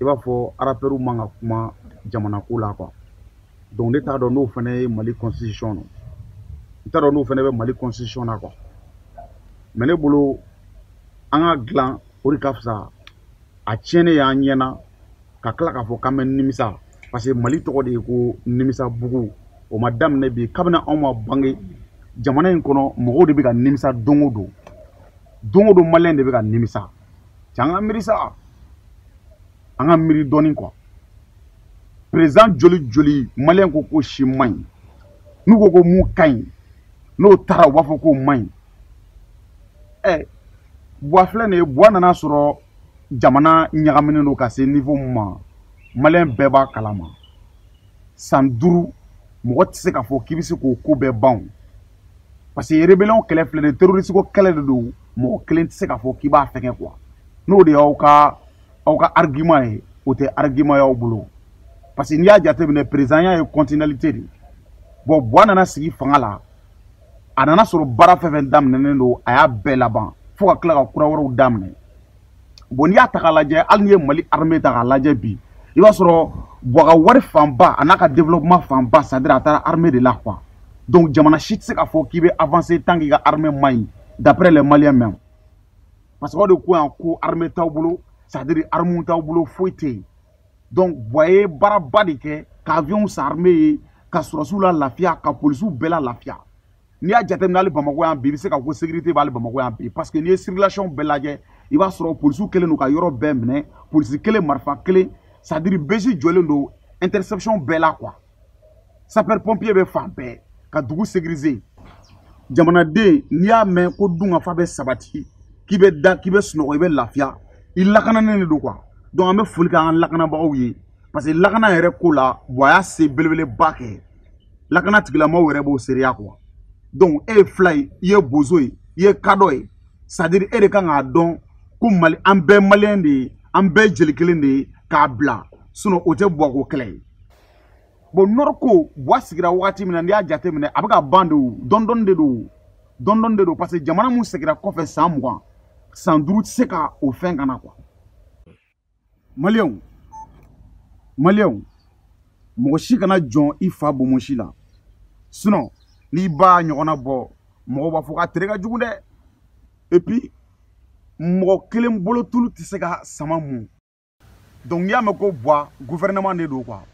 i b'a fɔ arapɛriw man ka kuma jamana ko la quoi donc ne t'a dɔn n'o fana ye mali constitution don n t'a dɔn n'o fana bɛ mali constitution na quoi mais ne bolo an k'a dilan o de ka fisa a tiɲɛnen y'an ɲɛna ka tila k'a fɔ k'an bɛ nimisa parce que mali tɔgɔ de ye ko nimisa bugu o ma daminɛ bi kabini anw ma bange jamana in kɔnɔ mɔgɔw de bɛ ka nimisa don o don don o don maliyɛn de bɛ ka nimisa cɛ an ka miiri sa an ka miiri dɔɔni quoi président joli joli maliyɛn ko k'o si man ɲi n'u ko ko mun ka ɲi n'o taara u b'a fɔ k'o man ɲi ɛ buwa filɛ nin ye buwa nan'a sɔrɔ jamana ɲagaminen don ka se niveau min ma maliyɛn bɛɛ b'a kalama san duuru mɔgɔ tɛ se k'a fɔ k'i bɛ se k'o ko bɛɛ ban parce que rébellion kɛlɛ filɛ nin ye terroriste ko kɛlɛ de don mɔgɔ kelen tɛ se k'a fɔ k'i b'a fɛnkɛ quoi n'o de y'aw ka aw ka argument ye o tɛ argument y'aw bolo parce que n'i y'a jateminɛ président ya ye continualité de ye bon buwa nana sigi fanga la a nan'a sɔrɔ baara fɛn fɛn daminɛnen don a y'a bɛɛ laban fo ka tila ka kura wɛrɛw daminɛ bon n'i y'a ta k'a lajɛ hali n'i ye mali armée ta k'a lajɛ bi i b'a sɔrɔ buwa ka wari fanba an'a ka développement fanba c'est à dire a taara armée de la quoi donc jamana si tɛ se k'a fɔ k'i bɛ avancer tant k'i ka armée man ɲi d'après les maliens même parce que aw de ko yan ko armée t'aw bolo c'est à dire armuw t'aw bolo foyi tɛ yen donc buwa ye baaraba de kɛ ka avion san armée ye ka sɔrɔdasiw lalafiya ka polisiw bɛɛ lalafiya n'i y'a jateminɛ hali bamakɔ yan bi i bɛ se ka ko sécurité bɛ hali bamakɔ yan bi parce que n'i ye circulation bɛɛ lajɛ i b'a sɔrɔ polisiw kɛlen don ka yɔrɔ bɛɛ minɛ polisi kelen marifa kelen c'est à dire BJ jɔlen don interception bɛɛ la quoi sapeur pompier bɛ fan bɛɛ ka dugu sécuriser jamanaden n'i y'a mɛn ko dunkafa bɛ sabati k'i bɛ da k'i bɛ sunɔgɔ i bɛ lafiya i lakananen de don quoi donc an bɛ foli kɛ an ka lakanabagaw ye parce que lakana yɛrɛ ko la buwa y'a se belebeleba kɛ lakana tigilamɔgɔw yɛrɛ b'o seereya quoi donc e ye fila ye i ye bozo ye i ye kadɔ ye c'est à dire e de kan k'a dɔn ko mali an bɛɛ maliyɛn de ye an bɛɛ jeli kelen de ye k'a bila sinon o tɛ buwako kɛlɛ ye bon nɔriko buwa sigira wagati min na n'i y'a jate minɛ a bɛ ka ban de o dɔndɔni de don dɔndɔni de don parce que jamana min segira kɔfɛ san mugan san duuru tɛ se ka o fɛn ka na quoi maliyɛnw maliyɛnw mɔgɔ si kana jɔn i fa bomosi la sinon n'i b'a ɲɔgɔnna bɔ mɔgɔw b'a fɔ k'a tere ka jugu dɛ et puis mɔgɔ kelen bolo tulu tɛ se ka sama mun donc n'i y'a mɛn ko buwa gouvernement de don quoi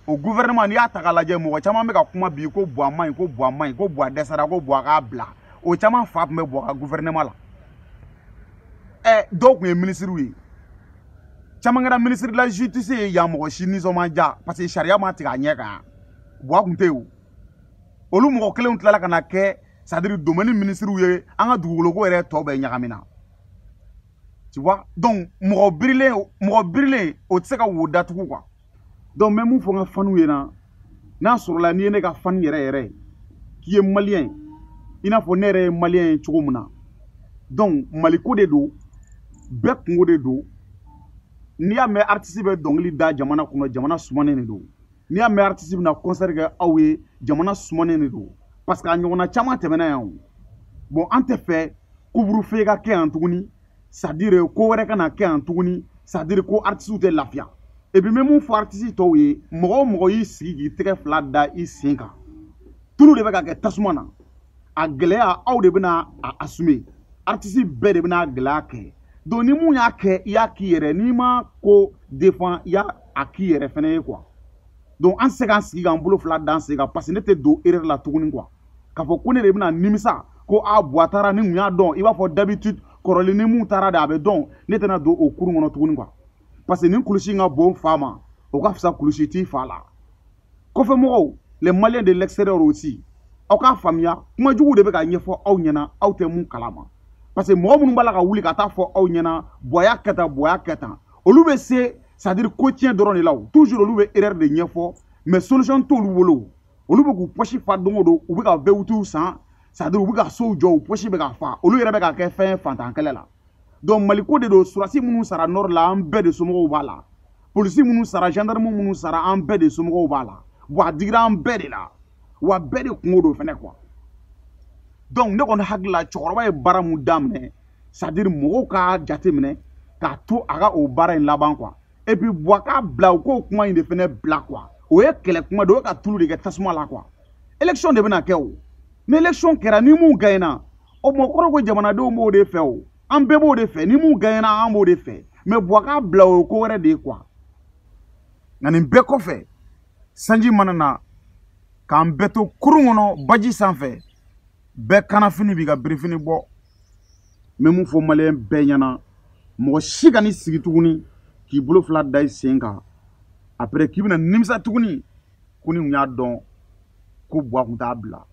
o gouvernement n'i y'a ta k'a lajɛ mɔgɔ caman bɛ ka kuma bi ko buwa man ɲi ko buwa man ɲi ko buwa dɛsɛra ko buwa k'a bila o caman fa tun bɛ buwa ka gouvernement la ɛ dɔw tun ye minisiriw ye caman kɛra ministre de la justice ye yan mɔgɔ si nisɔn ma diya parce que sariya ma tigɛ a ɲɛ kan buwa tun tɛ yen o olu mɔgɔ kelenw tilala ka na kɛ sadiri domɛni minisiriw ye an ka dugukoloko yɛrɛ tɔ bɛɛ ɲagamina tu vois donc mɔgɔ birilen mɔgɔ birilen o tɛ se ka wo datugu quoi donc n bɛ mun fɔ n ka faniw ye na n'a sɔrɔla n'i ye ne ka fani yɛrɛ yɛrɛ ye k'i ye maliyɛn i n'a fɔ ne yɛrɛ ye maliyɛn ye cogo min na donc maliko de don bɛɛ kungo de don n'i y'a mɛn aritisi bɛ dɔnkili da jamana kɔnɔ jamana sumanen de don n'i y'a mɛn aritisi bɛna kɔnsɛri kɛ aw ye jamana sumanen de don parce que a ɲɔgɔnna caman tɛmɛna yan o bon an tɛ fɛ couvre-feu ka kɛ yan tuguni sadire ko wɛrɛ kana kɛ yan tuguni sadire ko aritisiw tɛ lafiya et puis n bɛ mun fɔ aritisi tɔw ye mɔgɔ o mɔgɔ y'i sigi k'i tɛgɛ fila da i sen kan tulu de bɛ ka kɛ tasuma na a gɛlɛya aw de bɛna a assumer aritisi bɛɛ de bɛna a gɛlɛya kɛ donc ni mun y'a kɛ i y'a k'i yɛrɛ n'i ma ko defan i y'a k'i yɛrɛ fɛnɛ ye quoi donc an tɛ se k'an sigi k'an bolo fila d'an sen kan parce que ne tɛ don erreur la tuguni quoi k'a fɔ ko ne de bɛna nimisa ko a buwa taara ni mun y'a dɔn i b'a fɔ d'habitude kɔrɔlen ni mun taara de a bɛ dɔn ne tɛna don o kurun kɔnɔ tuguni quoi parce que ni kulusi in ka bon fa ma o ka fisa kulusi t'i fa la kɔfɛmɔgɔw les maliens de l'extérieur aussi aw k'a faamuya kuma jugu de bɛ ka ɲɛfɔ aw ɲɛna aw tɛ mun kalama parce que mɔgɔ minnu b'a la ka wuli ka t'a fɔ aw ɲɛna buwa y'a kɛ tan buwa y'a kɛ tan olu bɛ se c'est à dire ko tiɲɛ dɔrɔn de la o toujours olu bɛ erreur de ɲɛfɔ mais solution t'olu bolo olu bɛ k'u pɔsi fa don o don u bɛ ka voiture san sadiri u bɛ ka sow jɔ u pɔsi bɛ ka fa olu yɛrɛ bɛ ka kɛ fɛn faantan kɛlɛ la donc maliko de don surasi minnu sara nord la an bɛɛ de somɔgɔw b'a la polisi minnu sara gendarme minnu sara an bɛɛ de somɔgɔw b'a la wa a digira an bɛɛ de la wa bɛɛ de kungo don fɛnɛ quoi donc ne kɔni hakili la cɛkɔrɔba ye baara mun daminɛ sadiri mɔgɔw k'a jateminɛ k'a to a ka o baara in laban quoi et puis buwa k'a bila u k'o kuma in de fɛnɛ bila quoi o ye kɛlɛ kuma de o ye ka tulu de kɛ tasuma la quoi élection de bɛna kɛ o ni élection kɛra ni mun gaɲɛna o mɔ kɔrɔ ko jamanadenw b'o de fɛ o an bɛɛ b'o de fɛ ni mun gaɲɛna an b'o de fɛ mais buwa k'a bila o ye ko wɛrɛ de ye quoi nka nin bɛɛ kɔfɛ sanji mana na k'an bɛɛ to kurun kɔnɔ baji sanfɛ bɛɛ kannafini b'i ka birifini bɔ n bɛ mun fɔ maliyɛn bɛɛ ɲɛna mɔgɔ si kan'i sigi tuguni k'i bolo fila da i sen kan après k'i bɛna nimisa tuguni ko ni n kun y'a dɔn ko buwa kun t'a bila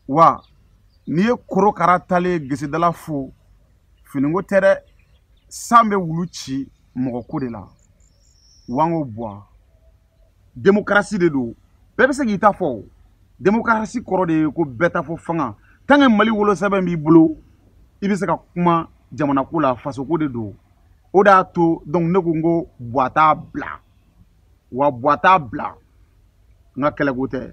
wa n'i ye korokara taalen ye gesedala fo finiko tɛ dɛ san bɛ wulu ci mɔgɔ ko de la wa n ko buwa demokarasi de don bɛɛ bɛ se k'i ta fɔ demokarasi kɔrɔ de ye ko bɛɛ ta fɔ fanga tant que mali wolosɛbɛn b'i bolo i bɛ se ka kuma jamanako la fasoko de don o de y'a to donc ne ko n ko buwa t'a bila wa buwa t'a bila n ka kɛlɛko tɛ